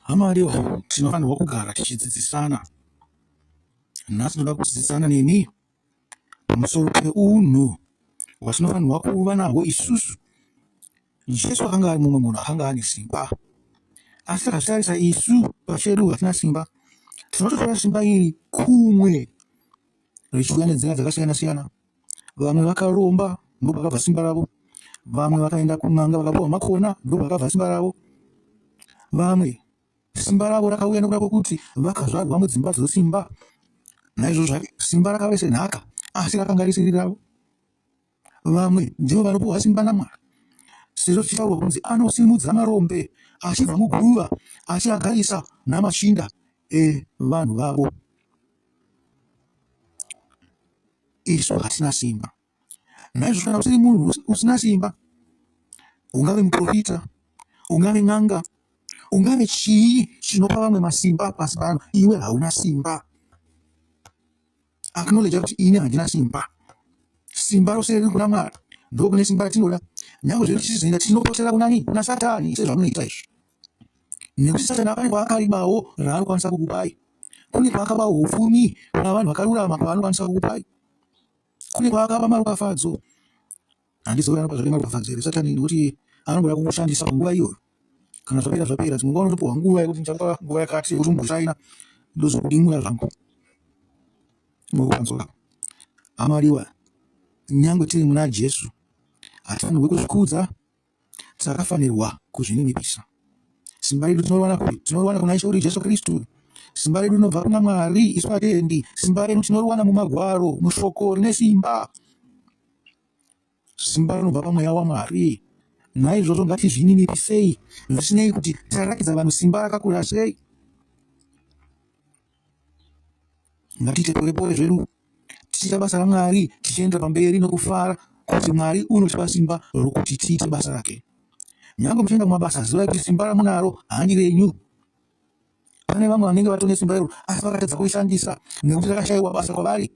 Hama Leo, tinofanirwa kugara tichidzidzisana. Nhasi tinoda kudzidzisana neni pamusoro peunhu hwatinofanirwa kuva nahwo isusu. Jesu akanga ari mumwe munhu akanga ane simba, asi takazvitarisa isu pachedu hatina simba. Tinototora simba iri kumwe richiuya nenzira dzakasiyana-siyana. Vamwe vakaromba ndopakabva simba ravo. Vamwe vakaenda kun'anga vakapuwa makona ndopakabva simba ravo. Vamwe simba ravo rakauya nokuda kwekuti vakazvarwa mudzimba dzosimba. Naizvozvo zvake simba rakave senhaka asi rakanga risiri ravo. Vamwe ndivo vanopuwa simba naMwari sezvo zvichitaurwa kunzi anosimudza marombe achibva muguva achiagarisa namachinda evanhu vavo. isu hatina simba. Naizvozvo kana usiri munhu usina simba, ungave muprofita, ungave n'anga, ungave chii chinopa vamwe masimba pasi pano, iwe hauna simba. Acknowledge kuti ini handina simba. Simba rose riri kuna Mwari, ndokune simba ratinoda. Nyangwe zviri tichizoenda tinopotera kunani? Kuna Satani, sezvamunoita izvi. nekuti satani ane kwaakarimawo raanokwanisa kukupai kune kwaakaba upfumi kana vanhu vakarurama kwaanokwanisa kukupai kune kwaakaba maropafadzo handizivi anopa zvake maropafadzo here satani nekuti anongoda kukushandisa panguva iyoyo kana zvapera zvapera dzimwe nguva unotopiwa nguva yekuti ndichakupa nguva yakati yekuti umboshaina ndozokudimura zvangu mokupanzora amariwa nyangwe tiri muna jesu hatifanirwe kuzvikudza Takafanirwa kuzvininipisa. Simba redu tinoriwana kupi? Tinoriwana kuna Ishe wedu Jesu Kristu. Simba redu rinobva kuna Mwari, isu vatendi. Simba redu tinoriwana mumagwaro, mushoko rine simba. Simba rinobva pamweya waMwari. Naizvozvo ngatizvininipisei, zvisinei kuti tarakiza vanhu simba rakakura sei. Ngatiite pore pore zvedu tichiita basa raMwari tichienda pamberi nokufara kuti Mwari unotipa simba rokuti tiite basa rake. Nyange muchienda kumabasa zivai kuti simba ramunaro handi renyu. Pane vamwe vanenge vatone simba iro asi vakatadza kurishandisa nekuti rakashaiwa basa kwavari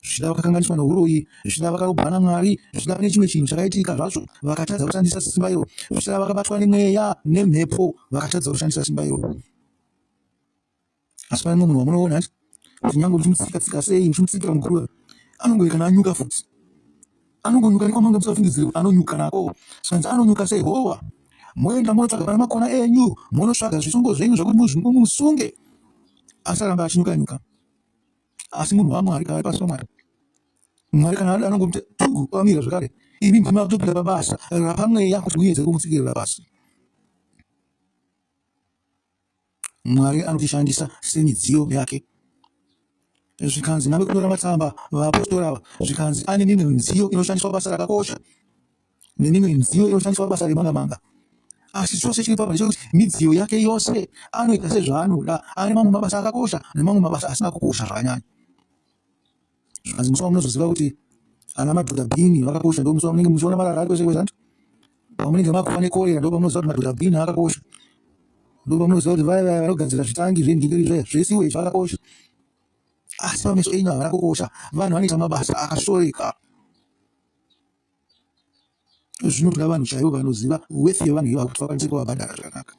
zvichida vakakanganiswa nouroyi zvichida vakarobwa namwari zvichida pane chimwe chinhu chakaitika zvacho vakatadza kushandisa simba iro zvichida vakabatwa nemweya nemhepo vakatadza kushandisa simba iro asi pane munhu wamunoona ati kuti nyange ndichimutsika tsika sei ndichimutsikira muguruva anongove kana anyuka futi anongonyuka nekwamanga musafungidzire kuti anonyuka nako sanzi anonyuka sei howa moenda monotsvaga pana makona enyu monosvaga zvisungo zvenyu zvakuti muzvingo musunge asi aramba achinyuka nyuka asi munhu wamwari kava pasi pamwari mwari kana ada anongomuti tugu kwamira zvakare imi ndimi vakutopinda pabasa rapamweya kuti muedze kumutsikirira pasi Mwari anotishandisa semidziyo yake. Zvikanzi nave kunyora matsamba vaapostora ava, zvikanzi ane mimwe midziyo inoshandiswa basa rakakosha nemimwe midziyo inoshandiswa basa remanga manga. Asi chose chiri papa ndechekuti midziyo yake yose anoita sezvaanoda, ari mamwe mabasa akakosha nemamwe mabasa asina kukosha zvakanyanya. zvikanzi musi wamunozoziva kuti ana madhodha bini vakakosha ndo musi wamunenge muchiona marara ari kwese kwese anti pamunenge makuva nekorera ndo pamunoziva kuti madhodha bini akakosha ndo pamunoziva kuti vaya vaya vanogadzira zvitangi zvendingiri zvaya zvesiwo izvi vakakosha asi pameso enyu havana kukosha vanhu vanoita mabasa akasoreka zvinotoda vanhu chaivo vanoziva wethi yevanhu ivavo kuti vakwanise kuvabhadhara zvakanaka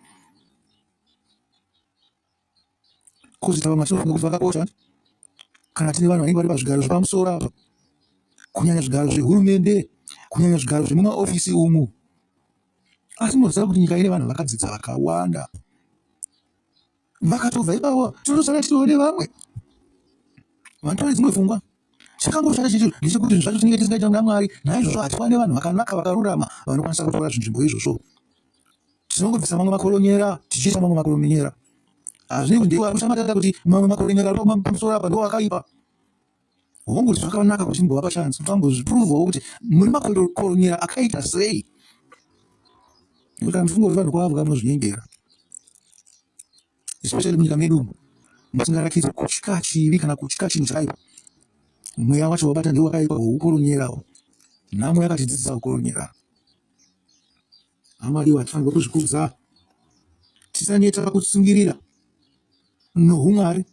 Kozita vamwe vatinoti ngokuti vakakosha kana tine vanhu vanenge vari pazvigaro zvepamusoro apa, kunyanya zvigaro zvehurumende, kunyanya zvigaro zvemumaofisi umu. Asi munoziva kuti nyika ine vanhu vakadzidza vakawanda, vakatobva ipapo tinosara tione vamwe vanotore dzimwe pfungwa. Chakangoshata chete ndechekuti zvinhu zvacho tinenge tisingaita kuna Mwari, naizvozvo hatiwane vanhu vakanaka vakarurama vanokwanisa kutora zvinzvimbo izvozvo. Tinongobvisa mamwe makoronyera tichiisa mamwe makoronyera. Hazvine kuti ndiwo anoshamatata kuti mamwe makoronyera ari pamusoro apa ndiwo akaipa. Hongu kuti zvakanaka kuti timbovapa chance kuti vambozvipuruvhawo kuti muri makoronyera akaita sei. Nekuti kana muchifunga kuti vanhu kwavo vanozvinyengera. especially munyika medu umu musingarakidze kutya chivi kana kutya chinhu chaipo mweya wacho wabata ndiwo wakaipa hweukoronyerawo nhamo yakatidzidzisa kukoronyera amadiwa hatifanirwa kuzvikudza tisaneta pakutsungirira nohumwari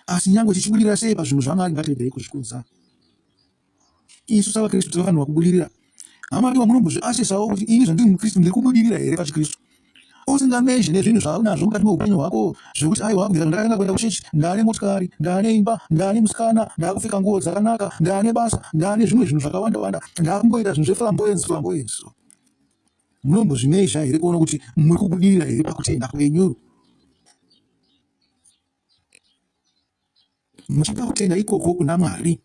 asi nyange tichibudirira sei pazvinhu zvamwari ngatiregerei kuzvikudza isu savaKristu tiri vanhu vakubudirira. Hama ndiwa munombozviasesawo kuti ini zvandiri muKristu ndiri kubudirira here pachiKristu? Usingamezhe nezvinhu zvaunazvo mukati meupenyu hwako zvekuti aiwa kubvira zvandakatanga kuenda kuchechi ndaane motikari, ndaane imba, ndaane musikana, ndaakupfeka nguo dzakanaka, ndaane basa, ndaane zvimwe zvinhu zvakawanda wanda, ndaakumboita zvinhu zveflamboyance flamboyance. Munombozvimezha here kuona kuti muri kubudirira here pakutenda kwenyu? muchipa kutenda ikoko kuna Mwari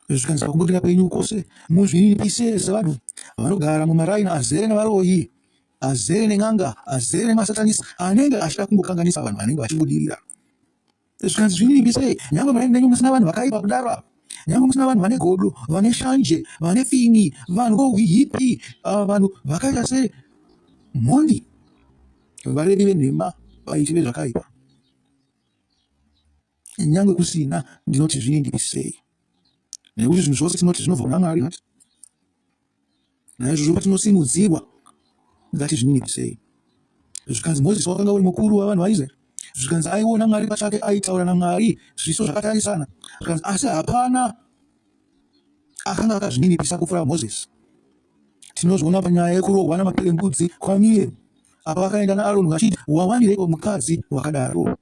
zvikanzi pakubudirira kwenyu kwose muzvininipise sevanhu vanogara mumaraini azere nevaroyi azere nen'anga azere nemasatanisi anenge achida kungokanganisa vanhu vanenge vachibudirira zvikanzi zvinyingi sei nyangwe mai nenyu musina vanhu vakaipa kudaro apa nyangwe musina vanhu vane godo vane shanje vane fini vanhu vohipi ah, vanhu vakaita se mhondi varevi venhema vaiti vezvakaipa nyangwe kusina ndinoti zvinyingi sei nekuti zvinhu zvose tinoti zvinobva kuna mwari Naizvozvo patinosimudzirwa, ngatizvininipise sei. Zvikanzi Mozisi wakanga uri mukuru wavanhu vaIsraeri. Zvikanzi aiona Mwari pachake, aitaura naMwari zviso zvakatarisana. Zvikanzi asi hapana akanga akazvininipisa kupfuura Mozisi. Tinozviona panyaya yekurohwa namapere mbudzi kwaMiriamu, apa vakaenda naAroni vachiti, Wawanireiko mukadzi wakadaro?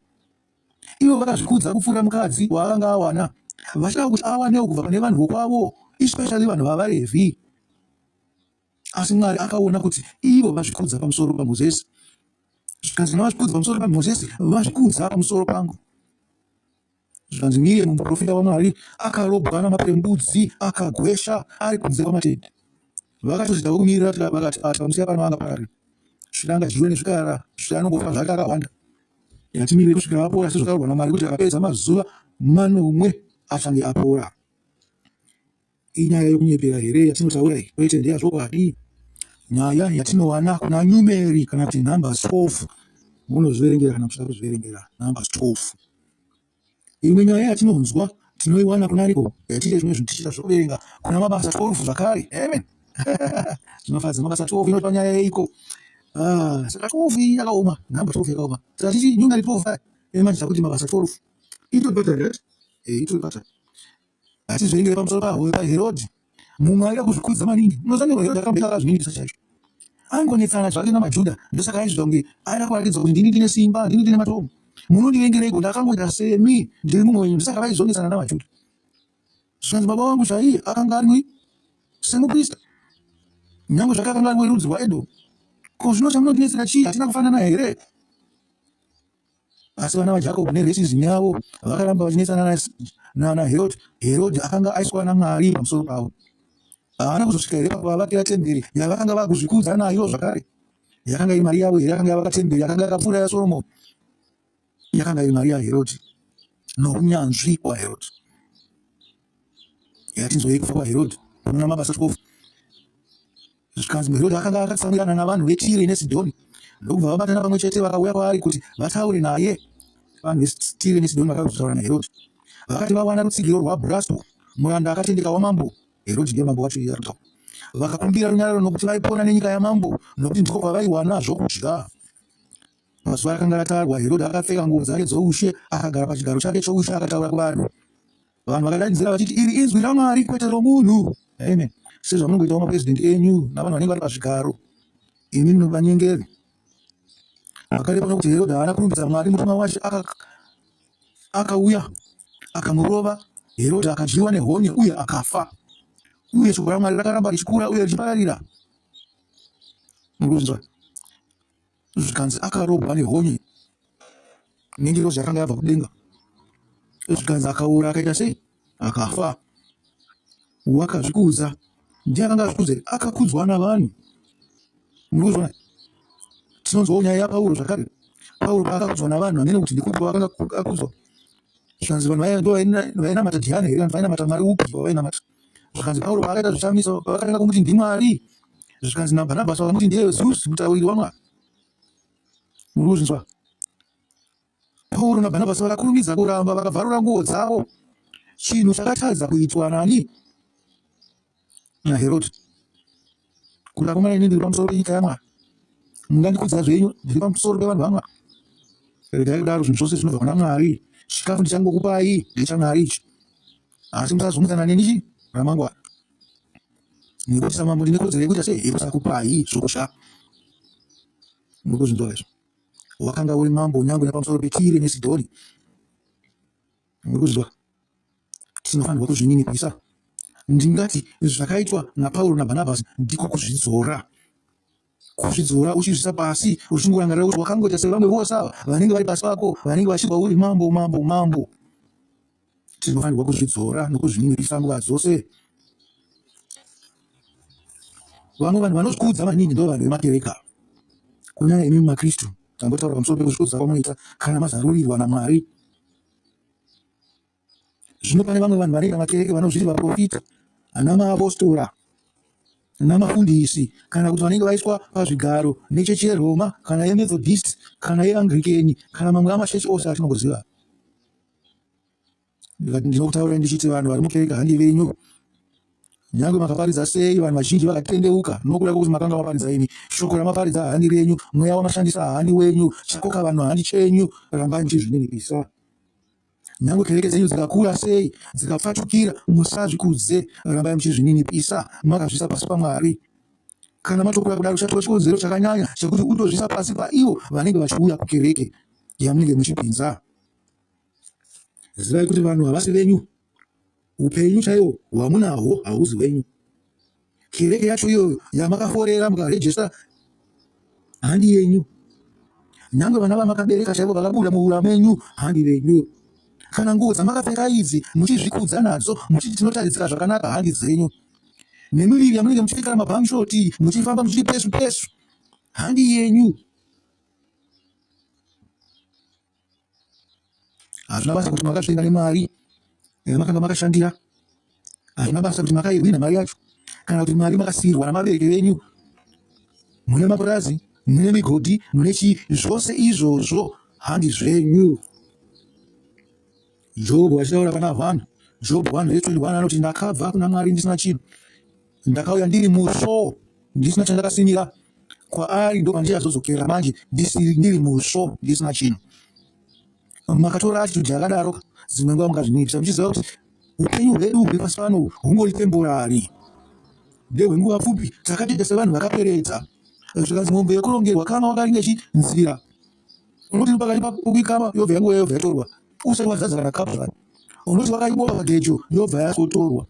Ivo vakazvikudza kupfuura mukadzi waakanga awana, vachida kuti awanewo kubva pane vanhu vokwavo, especially vanhu vavaRevhi. Asi Mwari akaona kuti ivo vazvikudza pamusoro paMozisi, zvikanzi navazvikudza pamusoro paMozisi vazvikudza pamusoro pangu. Zvikanzi Miriya muprofita waMwari akarobwa namapere mbudzi akagwesha ari kunze kwamatende. Vakatozitawo kumirira vakati ati pamusiya pano anga parari zvikangadyiwe nezvikara zvikanongofa zvake akahwanda. Yatimirire kusvika apora sezvataurwa naMwari kuti akapedza mazuva manomwe achange apora. Inyaya yokunyepera here yatinotaura iyi? Kwete, ndeyazvokwadi. Nyaya yatinowana kuna nyumeri kana kuti numbers 12 munozviverengera kana muchida kuzviverengera numbers 12. Imwe nyaya yatinonzwa tinoiwana kuna ariko yatiite zvimwe zvinhu tichiita zvekuverenga kuna mabasa 12 zvakare amen zvinofadza mabasa 12 inotipa nyaya yeiko ah, saka 12 iyi yakaoma number 12 yakaoma saka tichi nyunga ri 12 aya imatidza kuti mabasa 12 itotibata right eh, itotibata hatizverengere pamusoro pahwo paherodi munhu aida kuzvikudza maningi unozanirwa yoda kamutaka zviningisa chaizvo angonetsana zvake namajuda ndosaka aizvita kunge aida kuratidza kuti ndini ndine simba ndini ndine matomo munondivengereiko ndakangoita semi ndiri mumwe wenyu ndosaka vaizonetsana namajuda zvikanzi baba wangu chaiye akanga ari semuprista nyange zvake akanga ari werudzi rwaedomu ko zvino chamunondinetsera chii hatina kufanana here Asi vana vaJakobo neresizini yavo vakaramba vachinetsana naHerodhi. Herodhi akanga aiswa naMwari pamusoro pavo. Haana kuzosvika here pakuvavakira temberi yavakanga vakuzvikudza nayo zvakare? Yakanga iri mari yavo here yakanga yavaka temberi yakanga yakapfuura yaSoromoni? Yakanga iri mari yaHerodhi nounyanzvi hwaHerodhi. Yatinzwei kufa kwaHerodhi? Unoona mabasa chikofu Zvikanzi Herodhi akanga akatsamwirana navanhu veTire neSidhoni, ndokubva vabatana pamwe chete vakauya kwaari kuti vataure naye. Vanhu veTire neSidhoni vakauya kuzotaura naHerodhi, vakati vawana rutsigiro rwaBhurasto, muranda akatendeka wamambo. Herodhi ndiye mambo wacho iye akataura. Vakakumbira runyararo nokuti vaipona nenyika yamambo, nokuti ndiko kwavaiwana zvokudya. Mazuva akanga atarwa, Herodhi akapfeka nguo dzake dzoushe, akagara pachigaro chake choushe akataura kuvanhu. vanhu vakadanidzira vachiti iri inzwi ramwari kwete romunhu amen sezvamunongoitawo mapresident enyu navanhu vanenge vari pazvigaro imi munovanyengeri akareva kuti herodha haana kurumbidza mwari mutumwa wacho akauya akamurova herodha akadyiwa nehonye uye akafa uye shoko ramwari rakaramba richikura uye richipararira mukunzwa zvikanzi akarohwa nehonye nengirozi yakanga yabva kudenga zvikanzi akaora akaita sei akafa wakazvikudza ndiye akanga azvikudza akakudzwa navanhu murikuzviona tinonzwawo nyaya yapauro zvakare pauro paakakudzwa navanhu amene kuti ndikupi wakanga akudzwa zvikanzi vanhu vainamata dhiyani here vanhu vainamata mwari upi vavainamata Zvikanzi Pauro paakaita zvishamiso, pavakatanga kumuti ndiMwari, zvikanzi naBhanabhasi vakamuti ndiye Zeus, mutauriri waMwari. Muri kuzvinzwa? Pauro naBhanabhasi vakakurumidza kuramba, vakabvarura nguo dzavo, chinhu chakatadza kuitwa nani? NaHerodhi. Kuti akomana ini ndiri pamusoro penyika yaMwari, mungandikudza zvenyu, ndiri pamusoro pevanhu vaMwari. Regai kudaro, zvinhu zvose zvinobva kuna Mwari. Chikafu ndichangokupai ndechaMwari ichi. Asi musazungutsana neni chi ramangwana. Ngoti samambo ndine kodzero yekuita sei yekusakupai zvoko sha. Muri kuzvinzwa izvo. Wakanga uri mambo nyangwe nepamusoro peTire neSidhoni. Muri kuzvinzwa. Tinofanirwa kuzvininipisa. Ndingati zvakaitwa naPauro naBhanabhasi ndiko kuzvidzora. kuzvidzora uchizvisa pasi uchingorangarira kuti wakangoita sevamwe vose ava vanenge vari pasi pako vanenge vachibva uri mambo mambo mambo tinofanirwa kuzvidzora nokuzvininipisa nguva dzose vamwe vanhu vanozvikudza maningi ndo vanhu vemakereka kunyanya imi makristu tambotaura pamusoro pekuzvikudza kwamunoita kana mazarurirwa namwari zvino pane vamwe vanhu vanoita makereke vanozviti vaprofita ana maapostora namafundisi kana kuti vanenge vaiswa pazvigaro nechechi yeroma kana yemethodist kana yeangrikeni kana mamwe amachechi ose atinongoziva ndikati ndinokutaura ndichiti vanhu vari mukereke handi venyu nyange makaparidza sei vanhu vazhinji vakatendeuka nokuda kwekuti makanga maparidza imi shoko ramaparidza haani renyu mweya wamashandisa haani wenyu chakoka vanhu haani chenyu rambai muchizvininipisa Nyangwe kereke dzenyu dzikakura sei, dzikapfatukira, musazvikudze, rambai muchizvininipisa, makazviisa pasi paMwari. Kana matokura kudaro, uchatora chikonzero chakanyanya chekuti utozviisa pasi paivo vanenge vachiuya kukereke yamunenge muchipinza. Zivai kuti vanhu havasi venyu. Upenyu chaiwo hwamunahwo hauzi wenyu. Kereke yacho iyoyo yamakaforera mukarejesta handi yenyu. Nyange vana vamakabereka chaivo vakabuda muura menyu handi venyu. Kana nguo dzamakapfeka idzi muchizvikudza nadzo muchiti tinotaridzika zvakanaka handi dzenyu. Nemiviri yamunenge muchipfekera mabhamshoti muchifamba muchiti pesu pesu handi yenyu. Hazvina basa kuti makasvika nemari yamakanga makashandira. Hazvina basa kuti makaihwina mari yacho kana kuti mari makasiirwa namabereki venyu. Mune mapurazi, mune migodhi, mune chii, zvose izvozvo handi zvenyu. Jobho achitaura pana vanhu, Jobho 1 vhesi 21 anoti, Ndakabva kuna Mwari ndisina chinhu, ndakauya ndiri musvo, ndisina chandakasimira kwaari, ndokwandichazodzokera manje ndiri musvo, ndisina chinhu. Makatora atitudhi yakadaro, dzimwe nguva mungazvinipisa muchiziva kuti upenyu hwedu huri pasi pano hungori temporari ndehwenguva pfupi takatita sevanhu vakaperedza zvikanzi mombe yekurongerwa kama wakaringa chinzira unoti pakati pakukama yobva yanguva yobva yatorwa usati wazadza kana kapu zvakati unoti wakaibova pagejo yobva yasotorwa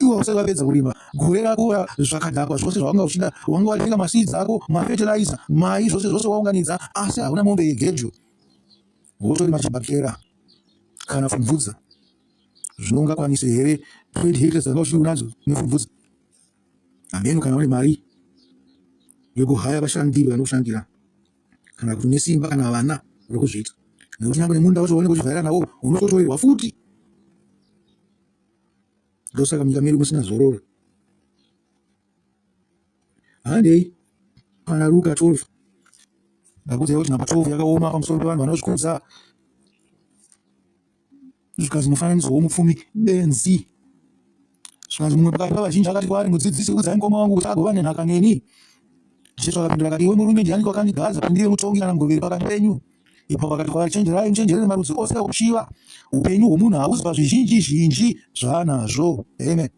iwe usati wapedza kurima gore rako zvakadhakwa zvose zvawanga uchida wanga watenga masiidzi ako mafetiraiza mai zvose zvose waunganidza asi hauna mombe yegejo wotorima chibhakera kana fumvudza zvinongakwanise here trade haters dzanga uchiri unadzo nefumvudza hameno kana une mari yekuhaya vashandi vanokushandira kana kuti nesimba kana vana uri kuzviita nekuti nyangwe nemunda wacho waunenge uchivhaira nawo unototoirwa futi ndosaka munyika medu musina zororo handei kana ruka 12 ndakuziva kuti nhamba 12 yakaoma pamusoro pevanhu vanozvikudza zvikanzi mufananidzo womupfumi benzi zvikanzi mumwe pakati pavazhinji akati kwaari mudzidzisi udzai mukoma wangu kuti agova nenhaka neni jesu akapindura akati iwe murume ndiani kwakandigadza kuti ndive mutongi kana mugoveri pakati penyu ipo vakati kwavari chenjerai muchenjerere marudzi ose okuchiva upenyu hwomunhu hauzi pazvizhinji zhinji zvaanazvo amen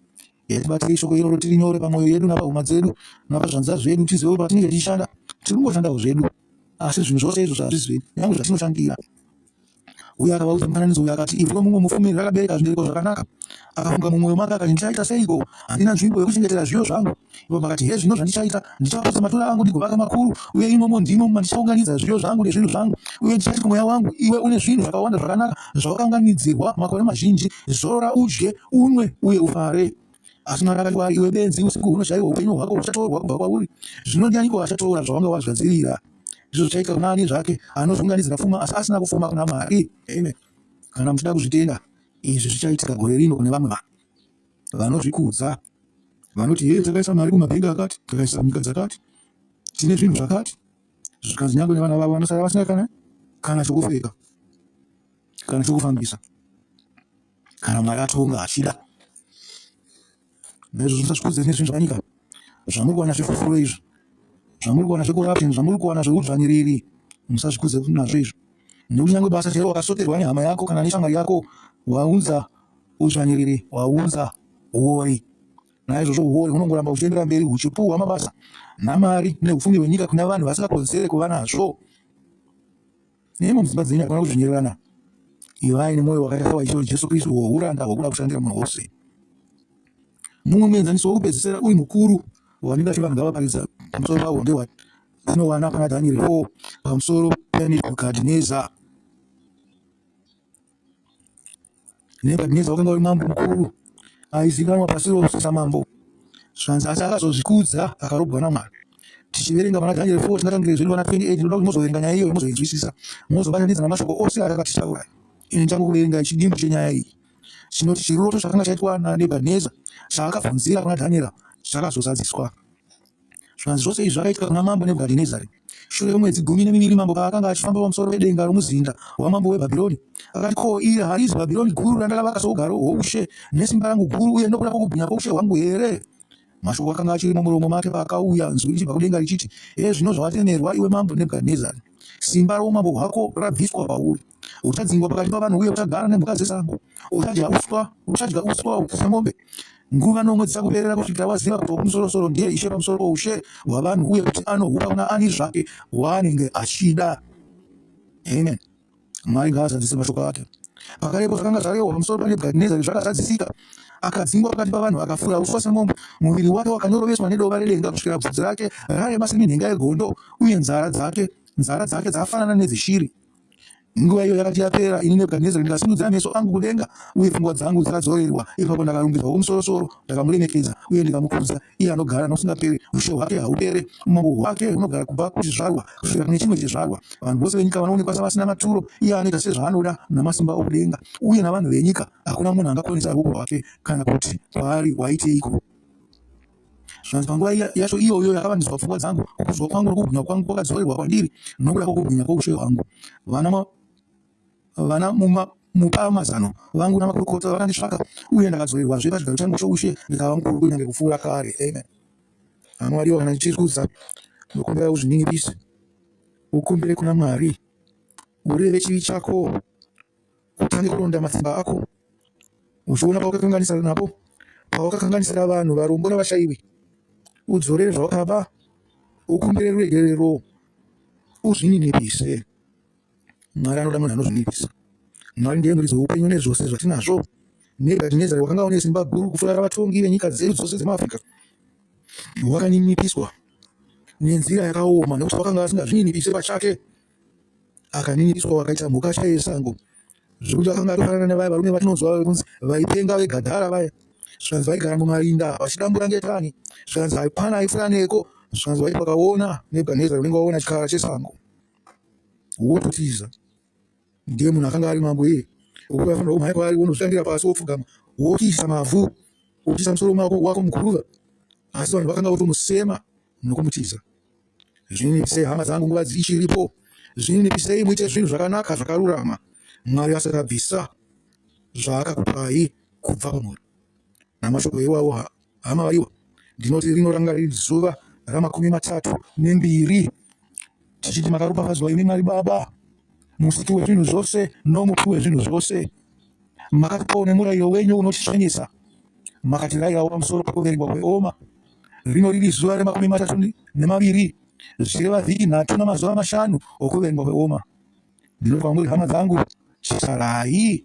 yatibatirei shoko iroro tiri nyore pamwoyo yedu napahuma dzedu napazvanza zvedu tizive kuti patinenge tichishanda tiri kungoshandawo zvedu asi zvinhu zvose izvo zvazvizivi nyange zvatinoshandira uye akavaudza mufananidzo uyu akati, Ivhu romumwe mufumi rakabereka zvibereko zvakanaka. Akafunga mumwoyo make akati, Ndichaita seiko? Handina nzvimbo yokuchengetera zviyo zvangu. Ivo vakati, Hezvino zvandichaita, Ndichaputsa matura angu ndigovaka makuru, uye imomo ndimo mandichaunganidza zviyo zvangu nezvinhu zvangu. Uye ndichati kumweya wangu, Iwe une zvinhu zvakawanda zvakanaka zvawakaunganidzirwa makore mazhinji, zorora udye, unwe, uye ufare. asi mwari akati iwe benzi usiku huno chaiwo upenyu hwako huchatorwa kubva kwauri zvino ndianiko achatora zvawanga wazvadzirira ndizvo zvichaita kuna ani zvake anozunganizira pfuma asi asina kufuma kuna mwari amen kana muchida kuzvitenda izvi zvichaitika gore rino kune vamwe vanhu vanozvikudza vanoti hee takaisa mari kumabhenga akati takaisa nyika dzakati tine zvinhu zvakati zvikanzi nyangwe nevana vavo vanosara vasina kana kana chokupfeka kana chokufambisa kana mwari atonga achida naizvozvo musazvikodzeri nezvinhu zvanyika zvamuri kuwana zvefufuro izvo zvamuri kuwana zvecorruption zvamuri kuwana zveudzvanyiriri musazvikudze nazvo izvo nekuti nyange basa chero wakasoterwa nehama yako kana neshamwari yako waunza udzvanyiriri waunza uori naizvozvo uori hunongoramba huchiendera mberi huchipuhwa mabasa namari neupfumi hwenyika kuna vanhu vasingakodzere kuva nazvo Nemo mudzimba dzenyu hakuna kuzvinyererana. Ivai nemwoyo wakaita sawaiswa Jesu Kristu wouranda hwokuda kushandira munhu wose. Mumwe muenzaniso wokupedzisira uyu mukuru wavanenge vati vanhu ngavaparidza pamusoro pawo ndewati tinowana pana Dhanieri 4 pamusoro paNebhukadhineza. Nebhadhineza wakanga uri mambo mukuru aizikanwa pasi rose samambo zvanzi asi akazozvikudza akarobwa namwari tichiverenga pana dhanieri 4 tingatangire zviri pana 28 tinoda kuti mozoverenga nyaya iyoyo mozoinzwisisa mozobatanidza namashoko ose atakatitaura ini ndichango kuverenga chidimbu chenyaya iyi chinoti chiroto chakanga chaitwa nanebhadhineza chaakabvunzira kuna dhanieri chakazozadziswa Zvivanze zvose izvi zvakaitika kuna mambo Nebhukadhinezari. Shure kwemwedzi gumi nemiviri mambo paakanga achifamba pamusoro pedenga romuzinda wamambo weBhabhironi, akati, Ko, iri harizi Bhabhironi guru randakavaka sougaro hwoushe nesimba rangu guru uye nokuda kwokubwinya kwoushe hwangu here? Mashoko akanga achiri mumuromo make paakauya nzwi richibva kudenga richiti, Hezvino zvawatemerwa, iwe mambo Nebhukadhinezari, simba roumambo hwako rabviswa pauri. Uchadzingwa pakati pavanhu uye uchagara nemhuka dzesango. Uchadya uswa, uchadya uswa uchidya mombe. Nguva nomwe dzichakuperera kusvikira waziva kuti Wokumusoro-soro ndiye Ishe pamusoro poushe hwavanhu uye kuti anohupa kuna ani zvake waanenge achida. Amen. Mwari ngaazadzise mashoko ake. Pakarepo zvakanga zvarehwa pamusoro paNebhukadhinezari zvakazadzisika. Akadzingwa pakati pavanhu akafura uswa semombe, muviri wake wakanyoroveswa nedova redenga kusvikira bvudzi rake rarema seminhenga yegondo, uye nzara dzake nzara dzake dzakafanana nedzeshiri. Nguva iyo yakati yapera, ini Nebhukadhinezari ndakasimudza meso angu kudenga, uye pfungwa dzangu dzakadzorerwa. Ipapo ndakarumbidzwa Wokumusoro-soro, ndakamuremekedza uye ndikamukudza, iye anogara nokusingaperi, ushe hwake hahupere, umambo hwake hunogara kubva kuchizvarwa kusvikira kune chimwe chizvarwa. Vanhu vose venyika vanoonekwa savasina maturo, iye anoita sezvaanoda naMasimba okudenga, uye navanhu venyika hakuna munhu angakonesa ruoko rwake kana kuti kwaari waiteiko. zvinonzi panguva yacho iyoyo yakavandiswa pfungwa dzangu kukudzwa kwangu nokubwinya kwangu kwakadzorerwa kwandiri nokuda kwokubwinya kwoushe hwangu vana mupa mazano vangu namakurukota vakandisvaka uye ndakadzoerwazve pachigaro changu choushe ndikava mukuru kunyange kupfuura kare amen hamwariwo kana ndichirikudza ndokumbira uzvininipise ukumbire kuna mwari ureve chivi chako utange kuronda matsimba ako uchiona pawakakanganisira napo pawakakanganisira vanhu varombo navashaiwi udzorere zvawakaba ukumbire ruregerero uzvininipise mwari anoda munhu anozvinipisa mwari ndiye muridzi weupenyu nezvose zvatinazvo nebhadhinezari wakanga une simba guru kufurara vatongi venyika dzedu dzose dzemaafrica wakaninipiswa nenzira yakaoma nekuti wakanga asingazvininipiswe pachake akaninipswa wakaita mhuka chaiye sango zvekuti akanga atofanana nevaya varume vatinonzwa vekunzi vaipenga vegadhara vaya zvikanzi vaigara mumarinda vachidambura ngetani zvikanzi haipana aifuraneko zvikanzi vaiti vakaona nebhaneza unenge waona chikara chesango wototiza ndiye munhu akanga ari mambo iye ukuti afanira kumhanya kwaari wonozvitandira pasi wopfugama wotiisa mavhu wotiisa musoro wako muguruva asi vanhu vakanga votomusema nokumutiza Zvininipisei hama dzangu nguva dzichiripo. Zvininipisei muite zvinhu zvakanaka zvakarurama Mwari asati abvisa zvaakakupai kubva pamwoyo. Namashoko iwawo hama vaiwa ndinoti rinoranga riri zuva ramakumi matatu nembiri tichiti makaropafadzwa imi Mwari Baba musiki wezvinhu zvose nomupi wezvinhu zvose. Makatipawo nemurairo wenyu unotisvanyisa, makatirayirawo pamusoro pekuverengwa kweoma. Rino riri zuva remakumi matatu nemaviri, zvichireva vhiki nhatu namazuva mashanu okuverengwa kweoma. Ndinoti kwamuri, hama dzangu, chitarai.